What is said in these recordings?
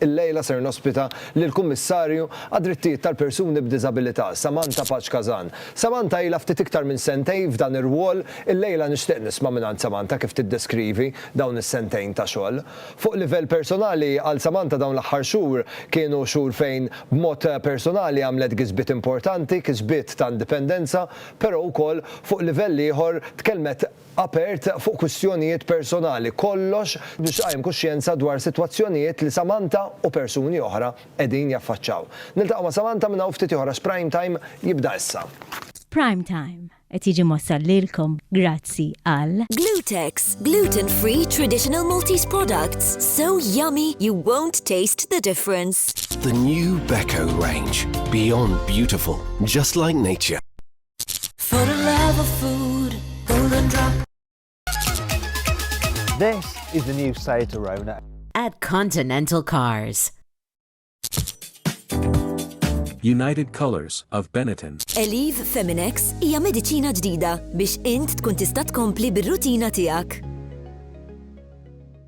Illejla ser nospita lill-Kummissarju għad-Drittijiet tal-Persuni b'Diżabilità, Samantha Paċ Kazan. Samantha ilha ftit iktar minn sentejn f'dan ir-rwol, illejla nixtieq nisma' mingħand Samantha kif tiddeskrivi dawn is-sentejn ta' xogħol. Fuq livell personali, għal Samantha dawn l-aħħar xhur kienu xhur fejn b'mod personali għamlet gisbiet importanti, kisbiet ta' indipendenza, però wkoll fuq livell ieħor tkellmet, apert fuq kwistjonijiet personali, kollox biex tqajjem kuxjenza dwar sitwazzjonijiet li Samantha u persuni oħra qegħdin jaffaċċaw. Niltaqgħu ma' Samantha minn hawn ftit ieħor għax Prime Time jibda issa. Prime Time qed jiġi mwassal lilkom grazzi għal. Glutex, gluten free traditional Maltese products, so yummy you won't taste the difference. The new Beko range, beyond beautiful, just like nature. For the love of food, golden drop. This is the new Seat Arona. At Continental Cars. United Colors of Benetton. Eliv Feminex hija mediċina ġdida biex int tkun tista' tkompli bir-rutina tiegħek.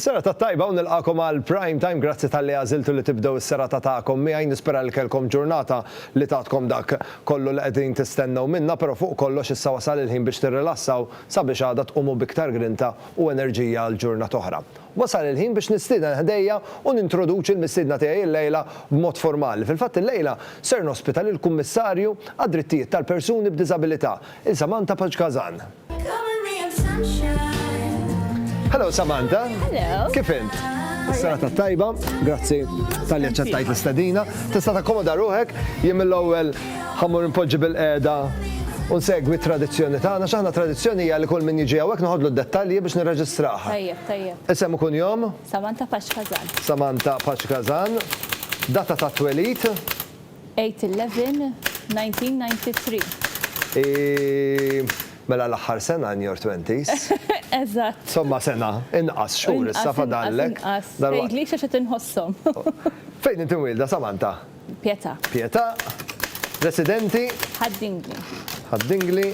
Serata tajba u nilqakom għal Prime Time, grazzi talli għażiltu li tibdew is-serata tagħkom miegħi, nispera li kellkom ġurnata li tatkom dak kollu li qegħdin tistennew minnha, però fuq kollox issa wasal il-ħin biex tirrilassaw sabiex għada tqumu b'iktar grinta u enerġija għal ġurnata oħra. Wasal il-ħin biex nistieden ħdejja u nintroduċi l-mistiedna tiegħi illejla b'mod formali. Fil-fatt illejla ser nospita lill-Kummissarju għad-Drittijiet tal-Persuni b'Diżabilità, il-Samantha Pagh Gazan. Hello Samantha. Hello. Kif int? Sena ta' tajba, grazzi tal-li ċettajt l-istadina. Tista' takkomoda ruħek, jien mill-ewwel ħammur impoġġi bil-qeda u nsegwi tradizzjoni tagħna x'aħna tradizzjoni hija li kull min jiġi hawnhekk noħodlu d-dettalji biex nirreġistraha. Tajjeb, tajjeb. Isem ikun jom? Samantha Paċkazan. Samantha Paċkazan. Data ta' twelid? 8/11/1993. Mela l-aħħar sena in your twenties. Eżatt. Somma sena inqas xhur issa fadallek. Inqas, inqas, inqas. Tgħidlix għax qed inħosshom. Fejn inti mwielda, Samantha? Pietà. Pietà. Residenti? Ħad-Dingli. Ħad-Dingli.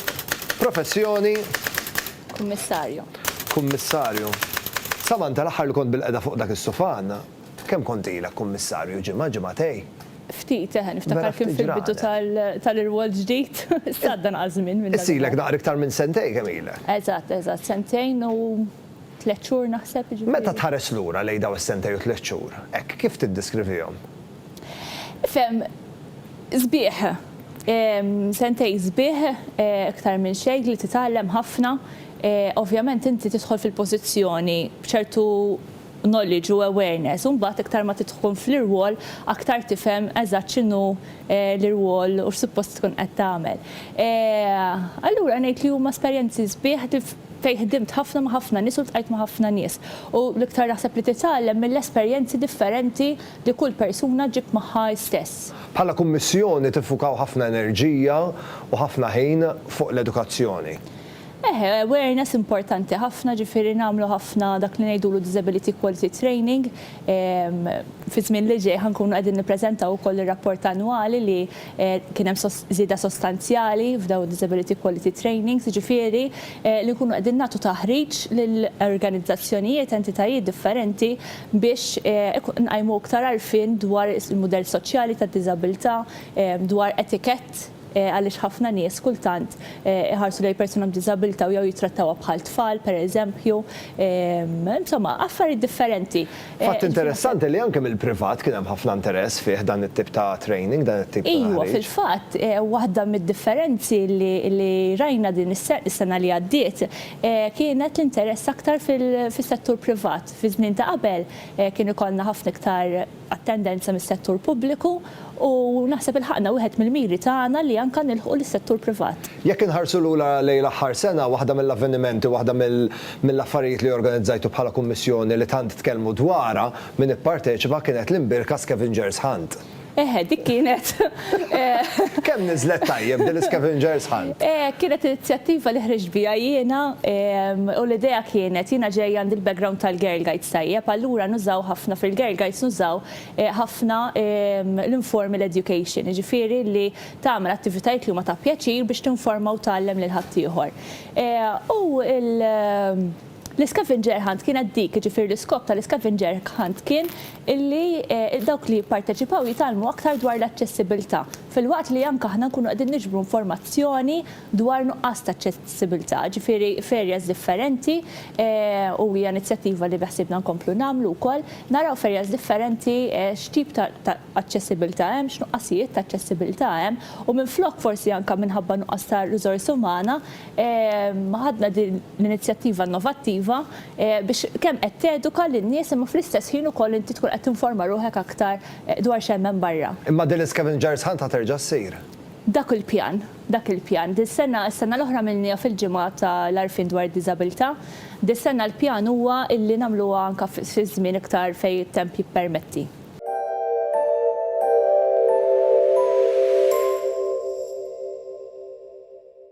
Professjoni? Kummissarju. Kummissarju. Samantha, l-aħħar li kont bilqiegħda fuq dak is-sufan, Kemm kont ilek Kummissarju, ġimgħa, ġimgħatej? Ftit, eħe, niftakar kien fil-bidu tal-irwol ġdid. Issa għadda nqas żmien minn dak. Issa ilek naqra iktar minn sentejn kemm ilek? Eżatt, eżatt, sentejn u tliet xhur naħseb, jiġifieri. Meta tħares lura lejn dawn is-sentejn u tliet xhur, hekk, kif tiddiskrivihom? Ifhem, sbieħ. Sentejn sbieħ, iktar minn xejn, li titgħallem ħafna. Ovvjament inti tidħol fil-pożizzjoni b'ċertu. knowledge u awareness u mbagħad iktar ma tidħkun fl-irwol aktar tifhem eżatt x'inhu l-irwol u x'suppost tkun qed tagħmel. Allura ngħid li huma esperjenzi sbieħ fejn ħdimt ħafna ma' ħafna nies u ltqajt ma' ħafna nies. U l-iktar naħseb li titgħallem mill-esperjenzi differenti li kull persuna ġġib magħha hi stess. Bħala Kummissjoni tiffukaw ħafna enerġija u ħafna ħin fuq l-edukazzjoni. Eħe, awareness importanti ħafna, ġifieri nagħmlu ħafna dak li ngħidulu disability quality training. Fiż-żmien li ġej ħa nkunu qegħdin nippreżentaw ukoll ir-rapport annwali li kien hemm żieda sostanzjali f'dawn id-disability quality trainings, jiġifieri li nkunu qegħdin nagħtu taħriġ lil organizzazzjonijiet, entitajiet differenti biex nqajmu iktar għarfien dwar il-mudell soċjali tad-diżabilità, dwar etikett. għaliex ħafna nies kultant iħarsu lejn persuna b'diżabilità u jew jittrattawha bħal tfal, pereżempju, insomma, affarijiet differenti. Fatt interessanti li anke mill-privat kien hemm ħafna interess fih dan it-tip ta' training, dan it-tip ta' taħriġ. Iva, fil-fatt, waħda mid-differenzi li rajna din is-sena li għaddiet kienet l-interess aktar fis-settur privat. Fiż-żmien ta' qabel kien ikollna ħafna iktar għat-tendenza mis-settur pubbliku u naħseb ilħaqna wieħed mill-miri tagħna li anke nilħqu lis-settur privat. Jekk inħarsu lura lejn l-aħħar sena, waħda mill-avvenimenti, waħda mill-affarijiet li organizzajtu bħala Kummissjoni li tant tkellmu dwarha min ipparteċipa kienet l-imbirka Scavengers Hunt. Eħe, dik kienet Kemm niżlet tajjeb din l-Scavengers Hunt! Kienet inizjattiva li ħriġt biha jiena u l-idea kienet, jiena ġej għandi l-background tal-Girl Guides tajjeb, allura nużaw ħafna fil-Girl Guides nużaw ħafna l-informal education, jiġifieri li tagħmel attivitajiet li huma ta' pjaċir biex tinforma u tgħallem lil ħaddieħor. U l. L-scavenger hunt kienet dik, jiġifieri l-iskop tal-iscavenger hunt kien illi dawk li jipparteċipaw jitgħallmu aktar dwar l-aċċessibilità, filwaqt li anke aħna nkunu qegħdin niġbru informazzjoni dwar nuqqas ta' aċċessibilità, ġifieri f'areas differenti u hija inizjattiva li beħsiebna nkomplu nagħmlu wkoll, naraw f'areas differenti x'tip ta' aċċessibilità hemm, x'nuqqasijiet ta' aċċessibilità hemm u minflok forsi anke minħabba nuqqas ta' riżorsi umana, ħadna din l-inizjattiva innovattiva biex kemm qed teduka lin-nies imma fl-istess ħin ukoll inti tkun qed tinforma ruħek aktar dwar x'hemm hemm barra. Imma din l-Iscavengers Hunt ħa terġa' ssir? Dak hu l-pjan. Dak il-pjan. Dis-sena, is-sena l-oħra għamilniha fil-Ġimgħa ta' l-Għarfien dwar id-Diżabilità. Dis-sena l-pjan huwa illi nagħmluha anke fi żmien iktar fejn it-temp jippermetti.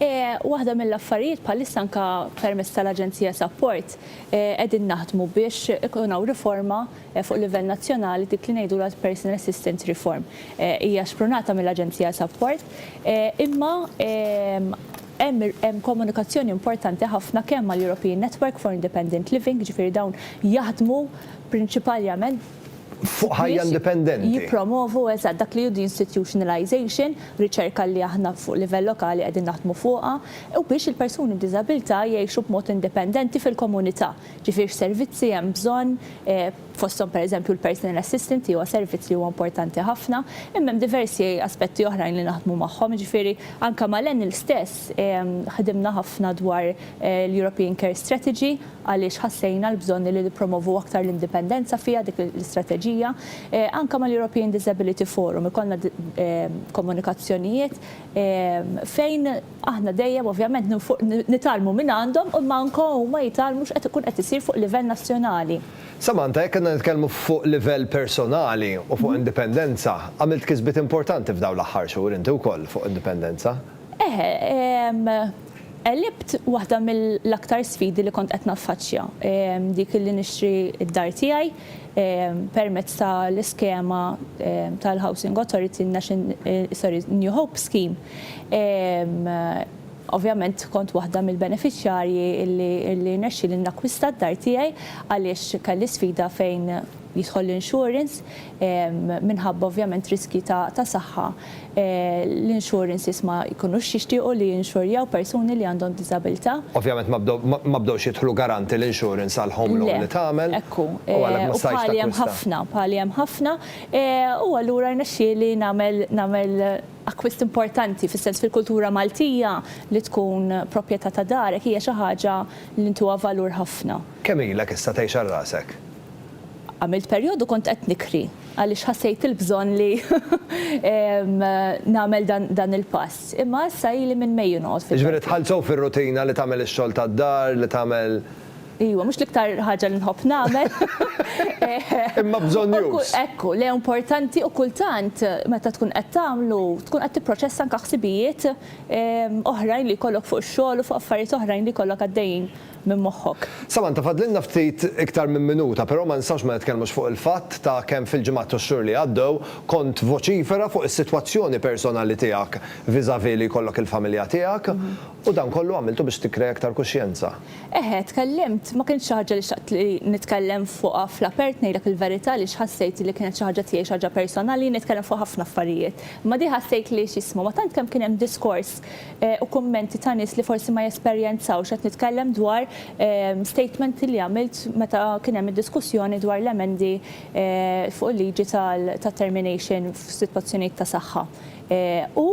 Waħda mill-affarijiet bħalissa anke permezz tal-Aġenzija Sapport qegħdin naħdmu biex ikun hawn riforma fuq livell nazzjonali dik li ngħidulha l-Personal Assistance Reform. Hija xprunata mill-Aġenzija Sapport imma hemm komunikazzjoni importanti ħafna kemm mal-European Network for Independent Living, jiġifieri dawn jaħdmu prinċipaljament fuq ħajja indipendenti. Jippromovu, eżatt, dak li hu deinstitutionalization, riċerka li aħna fuq livell lokali qegħdin naħdmu fuqha, u biex il-persuni b'diżabilità jgħixu b'mod indipendenti fil-komunità. Ġifieri x'servizzi hemm bżonn, fosthom pereżempju l-personal assistant li huwa servizz li huwa importanti ħafna, imma hemm diversi aspetti oħrajn li naħdmu magħhom, jiġifieri anke mal-ENEL stess ħdimna ħafna dwar l-European Care Strategy, għaliex ħassejna l-bżonn li nippromovu aktar l-indipendenza fiha dik l-istrateġija, anke mal-European Disability Forum ikollna komunikazzjonijiet fejn aħna dejjem ovvjament nitgħallmu minn għandhom imma anke huma jitgħallmu x'qed ikun qed isir fuq livell nazzjonali. Samantha, jekk għandna nitkellmu fuq livell personali u fuq indipendenza, għamilt kisbiet importanti f'dawn l-aħħar xhur inti wkoll fuq indipendenza. Eħe, Għelibt waħda mill-aktar sfidi li kont qed naffaċċja, dik li nixtri d-dar tiegħi permezz ta' l-iskema tal-Housing Authority sorry, New Hope Scheme. Ovvjament kont waħda mill-benefiċjarji li rnexxieli nakkwista d-dar tiegħi għaliex kelli sfida fejn jidħol l-insurance, minħabba ovvjament riskji ta' saħħa, l-insurances ma jkunux jixtiequ li jinxurjaw persuni li għandhom diżabilità. Ovvjament ma bdewx jidħlu garanti l-insurance għall-home loan li tagħmel u għalhekk ma stajtx takkwista. Le, ekku, u bħali hemm ħafna, bħali hemm ħafna u allura rnexxieli nagħmel akkwist importanti, fis-sens fil-kultura Maltija li tkun proprjetà ta' darek hija xi ħaġa li ntuha valur ħafna. Kemm ilek issa tgħix għal rasek? Għamilt perjodu kont qed nikri għaliex ħassejt il-bżonn li nagħmel dan il-pass. Imma issa ili minn Mejju noqgħod fil-belt. Jiġifieri dħalt sew fir-rutina li tagħmel ix-xogħol tad-dar, li tagħmel. Iwa, mhux l-iktar ħaġa li nħobb nagħmel. Imma bżonnjuż. Ekku, le importanti u kultant meta tkun qed tagħmlu tkun qed tipproċessa anke ħsibijiet oħrajn li jkollok fuq ix-xogħol u fuq affarijiet oħrajn li jkollok għaddejjin minn moħħok. Samantha, fadlilna ftit iktar minn minuta, però ma nistgħux ma nitkellmux fuq il-fatt ta' kemm fil-ġimgħat u x-xhur li għaddew kont voċifera fuq is-sitwazzjoni personali tiegħek vis-à-vis li jkollok il-familja tiegħek u dan kollu għamiltu biex tikkrea iktar kuxjenza. Eħe, tkellimt, ma kienx xi ħaġa li xtaqt li nitkellem fuqha fl-apert ngħidlek il-verità għaliex ħassejt li kienet xi ħaġa tiegħi, xi ħaġa personali, jien nitkellem fuq ħafna affarijiet. Imma di ħassejt li x'jismu, ma tant kemm kien hemm diskors, u kummenti ta' nies li forsi ma jesperjenzawx qed nitkellem dwar statement li għamilt meta kien hemm id-diskussjoni dwar l-emendi fuq il-liġi tat-termination f'sitwazzjonijiet ta' saħħa. U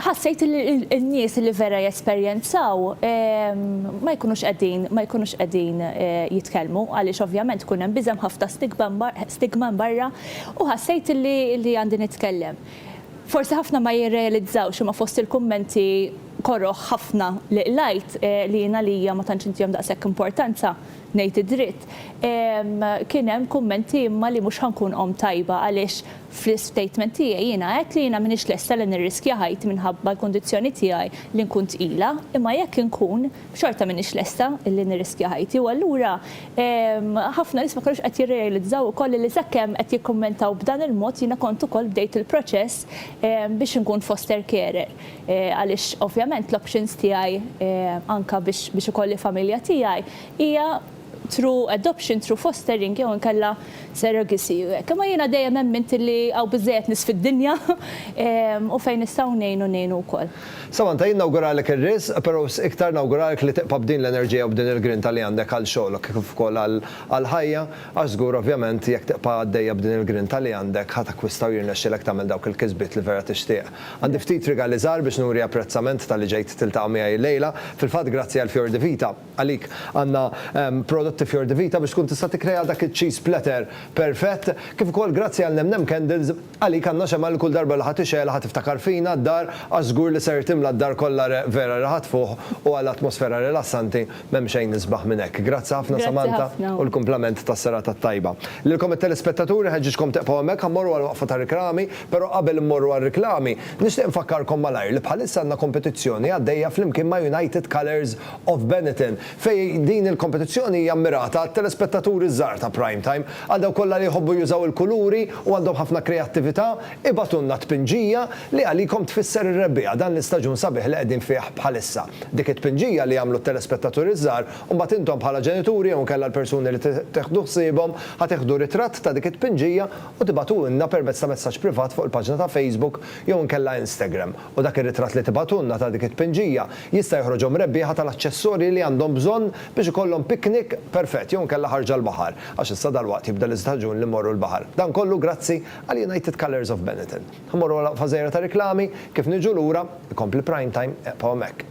ħassejt li n-nies li vera jesperjenzaw ma jkunux qegħdin ma jkunux qegħdin jitkellmu għaliex ovvjament ikun hemm biża' hemm ħafna stigma hemm barra u ħassejt li għandi nitkellem. Forsi ħafna ma jirrealizzawx imma fost il-kummenti koroh ħafna li qlajt, li jien għalija ma tantx intihom daqshekk importanza, ngħid id-dritt, kien hemm kummenti imma li mhux ħa nkun omm tajba għaliex fl-istatement tiegħi jiena għedt li jiena m'iniex lesta li nirriskja ħajti minħabba l-kundizzjoni tiegħi li nkun tqila imma jekk inkun xorta m'iniex lesta li nirriskja ħajti u allura ħafna nies ma kinux qed jirrealizzaw ukoll li sakemm qed jikkummentaw b'dan il-mod jiena kont ukoll bdejt il-proċess biex inkun foster carer għaliex ovvjament l-options tiegħi anke biex ikolli familja tiegħi hija through adoption, through fostering jew inkella surrogacy. Imma jiena dejjem emmint li hawn biżżejjed nies fid-dinja u fejn nistgħu ngħinu ngħinu wkoll. Samantha, jien nawguralek ir-riżq, però iktar nawguralek li tibqa' b'din l-enerġija u b'din il-grinta li għandek għal xogħlok kif ukoll għall-ħajja, għax żgur ovvjament jekk tibqa' għaddejja b'din il-grinta li għandek ħa takkwista u jirnexxilek tagħmel dawk il-kisbiet li vera tixtieq. Għandi ftit rigali żgħar biex nuri apprezzament talli ġejt tiltaqa' miegħi llejla. Fil-fatt grazzi għall-fjor di vita. Għalik għandna prodotti Fior di Vita biex tkun tista' tikkrea dak iċ-cheese platter perfett, kif ukoll grazzi għal Nem Nem Candles, għalik għandna xemgħa li kull darba li ħa tixgħelha ħa tiftakar fina, d-dar, għax żgur li ser timla d-dar kollha reħ vera reħat fuħ u għal atmosfera rilassanti m'hemm xejn isbaħ minn hekk. Grazzi ħafna Samantha u l-kumplament tas-serata t-tajba. Lilkom it-telespettaturi nħeġġiġkom tieqfgħu hemmhekk ħa mmorru għal waqfa ta' riklami, però qabel immorru għar-riklami nixtieq infakkarkom malajr li bħalissa għandna kompetizzjoni għaddejja flimkien ma' United Colours of Benetton, fejn din il-kompetizzjoni hija mmirata għat-telespettaturi ż-żgħar ta' Prime Time. Għal dawk kollha li jħobbu jużaw il-kuluri u għandhom ħafna kreattività, ibagħtulna tpinġija li għalikom tfisser ir-rebbiegħa, dan l-istaġun sabiħ li qegħdin fih bħalissa. Dik it-tpinġija li jagħmlu t-telespettaturi ż-żgħar, imbagħad intom bħala ġenituri jew inkella l-persuni li teħdu ħsiebhom ħa teħdu ritratt ta' dik it-tpinġija u tibagħtuhulna permezz ta' messaġġ privat fuq il-paġna ta' Facebook jew inkella Instagram. u dak ir-ritratt li tibgħatulna ta' dik it-tpinġija jista' joħroġhom rebbieħa tal-aċċessorji li għandhom bżonn biex ikollhom picnic perfett jew inkella ħarġa l-baħar, għax issa dalwaqt jibda l-istaġun li mmorru l-baħar. Dan kollu grazzi għal United Colours of Benetton. Ħa mmorru għal waqfa żgħira ta' riklami, kif niġu lura, ikompli Prime Time, eqbgħu hekk.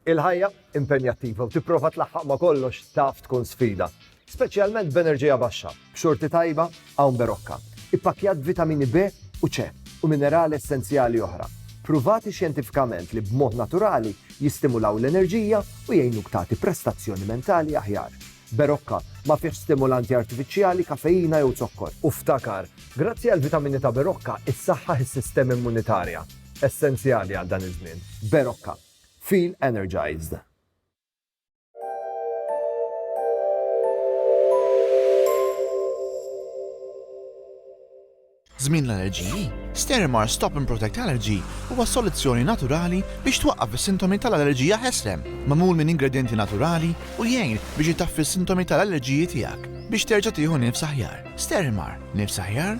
Il-ħajja impenjattiva u tipprova tlaħħaq ma' kollox taf tkun sfida, speċjalment b'enerġija baxxa, b'xorti tajba hawn Berocca, ippakkjat b'vitamini B u C u minerali essenzjali oħra, pruvati xjentifikament li b'mod naturali jistimulaw l-enerġija u jgħinuk tagħti prestazzjoni mentali aħjar. Berocca ma fihx stimulanti artifiċjali, kafeina jew zokkor. U ftakar, grazzi għall-vitamini ta' Berocca, issaħħaħ is-sistema immunitarja, essenzjali għal dan iż-żmien. Berocca. Feel Energized! Żmien l-allerġiji, Sterimar Stop and Protect Allergy huwa soluzzjoni naturali biex twaqqaf is-sintomi tal-allerġija ħesrem. Magħmul minn ingredjenti naturali u jgħin biex itaffi s-sintomi tal-allerġiji tiegħek biex terġa' tieħu nifs aħjar. Sterimar, nifs aħjar?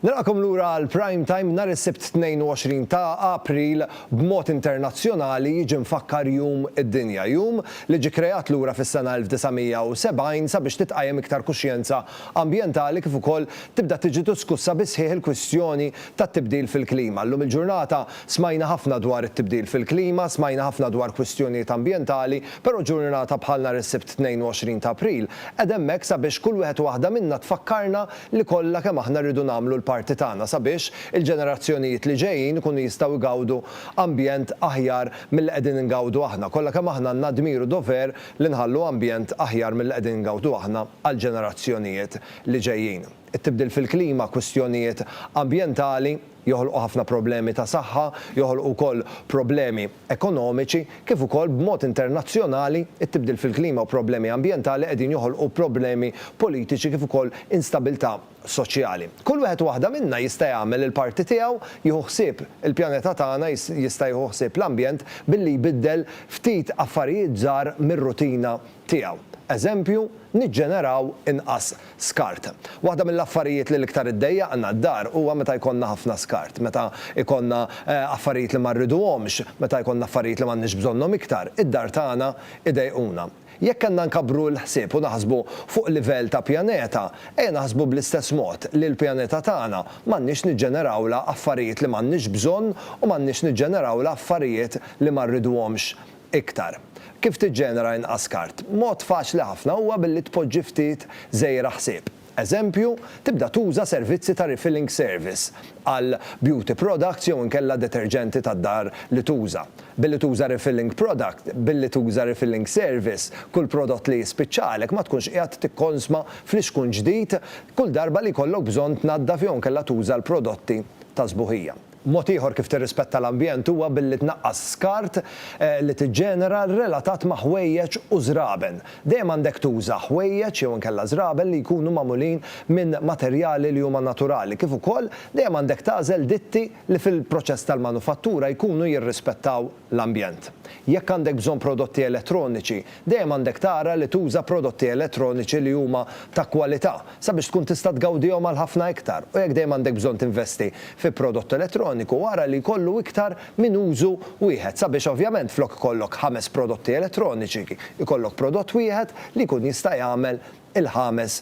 Nilqakom lura għal Prime Time nhar is-Sibt 22 ta' April b'mod internazzjonali jiġi mfakkar Jum id-Dinja, jum li ġie kreat lura fis-sena 1970 sabiex titqajjem iktar kuxjenza ambjentali kif ukoll tibda tiġi diskussa bis-sħiħ il-kwistjoni tat-tibdil fil-klima. Llum il-ġurnata Smajna ħafna dwar it-tibdil fil-klima, smajna ħafna dwar kwistjonijiet ambjentali, però ġurnata bħal nhar is-Sibt 22 ta' April qegħda hemmhekk sabiex kull wieħed u waħda minna tfakkarna li kollha kemm aħna rridu nagħmlu l-parti tagħna sabiex il-ġenerazzjonijiet li ġejjin ikunu jistgħu jgawdu ambjent aħjar milli qegħdin ingawdu aħna. Kollha kemm aħna għandna d-dmir u dover li nħallu ambjent aħjar milli qegħdin ingawdu aħna għall-ġenerazzjonijiet li ġejjin. It-tibdil fil-klima, kwistjonijiet ambjentali, joħolqu ħafna problemi ta' saħħa, joħolqu wkoll problemi ekonomiċi, kif ukoll b'mod internazzjonali, it-tibdil fil-klima u problemi ambjentali qegħdin joħolqu problemi politiċi kif ukoll instabilità soċjali. Kull wieħed u waħda minna jista' jagħmel il-parti tiegħu, jieħu ħsieb il-pjaneta tagħna, jista' jieħu ħsieb l-ambjent billi jbiddel ftit affarijiet żgħar mir-rutina tiegħu. Eżempju, niġġeneraw inqas skart. Waħda mill-affarijiet li l-iktar iddejjaqna d-dar huwa meta jkollna ħafna skart, meta jkollna affarijiet li ma rriduhomx, meta jkollna affarijiet li m'għandniex bżonnhom iktar, id-dar tagħna idejquna. Jekk għandna nkabbru l-ħsieb u naħsbu fuq livell ta' pjaneta, ejja naħsbu bl-istess mod li l-pjaneta tagħna m'għandniex niġġenerawlha affarijiet li m'għandniex bżonn u m'għandniex niġġenerawlha affarijiet li ma rriduhomx iktar. Kif tiġġenera inqas skart? Mod faċli ħafna huwa billi tpoġġi ftit żejra ħsieb. Eżempju, tibda tuża servizzi ta' refilling service għal beauty products jew inkella deterġenti tad-dar li tuża. Billi tuża refilling product, billi tuża refilling service, kull prodott li jispiċċalek ma tkunx qiegħed tikkonsma flixkun ġdid kull darba li jkollok bżonn tnaddaf jew inkella tuża l-prodotti ta' sbuħija. Mod ieħor kif tirrispetta l-ambjent huwa billi tnaqqas skart li tiġġenera relatat ma' ħwejjeġ u żraben. Dejjem għandek tuża ħwejjeġ jew inkella żraben li jkunu magħmulin minn materjali li huma naturali kif ukoll dejjem għandek tagħżel ditti li fil-proċess tal-manufattura jkunu jirrispettaw l-ambjent. Jekk għandek bżonn prodotti elettroniċi, dejjem għandek tara li tuża prodotti elettroniċi li huma ta' kwalità sabiex tkun tista' tgawdihom għal ħafna iktar u jekk dejjem għandek bżonn tinvesti fi prodott elettroniku, ara li jkollu iktar minn użu wieħed sabiex ovvjament flok ikollok ħames prodotti elettroniċi, ikollok prodott wieħed li jkun jista' jagħmel il-ħames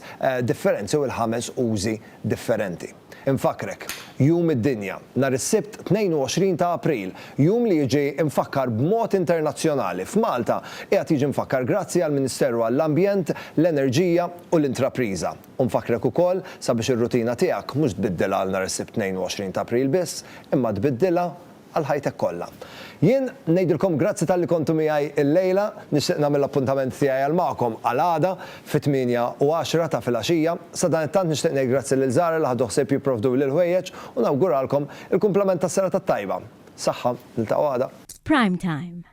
differenzi u l-ħames użi differenti. Infakkrek, Jum id-Dinja, nhar is-Sibt 22 ta' April, jum li jiġi mfakkar b'mod internazzjonali, f'Malta qiegħed jiġi mfakkar grazzi għall-Ministeru għall-Ambjent, l-Enerġija u l-Intrapriża. U nfakkrek ukoll sabiex ir-rutina tiegħek mhux tbiddilha għal nhar is-Sibt 22 ta' April biss, imma tbiddilha għal ħajtek kollha. Jien ngħidilkom grazzi talli kontu miegħi llejla, nixtieq nagħmel l-appuntament tiegħi għal magħkom għal għada fit-tmienja u għaxra ta' filgħaxija. Sadanittant nixtieq ngħid grazzi lil Zara li ħadu ħsieb jipprovduli l-ħwejjeġ u nawguralkom il-kumplament tas-serata t-tajba. Saħħa, niltaqgħu għada. F'Prime Time.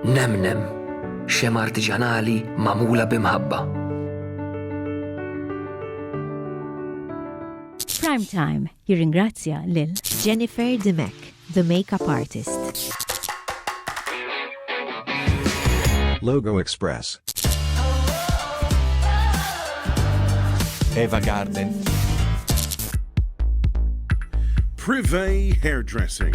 Nemnem, xema artiġanali magħmula bi mħabba. Prime Time jirringrazzja lil Jennifer Dimek, the makeup artist. Logo Express. Eva Garden. Privé Hairdressing.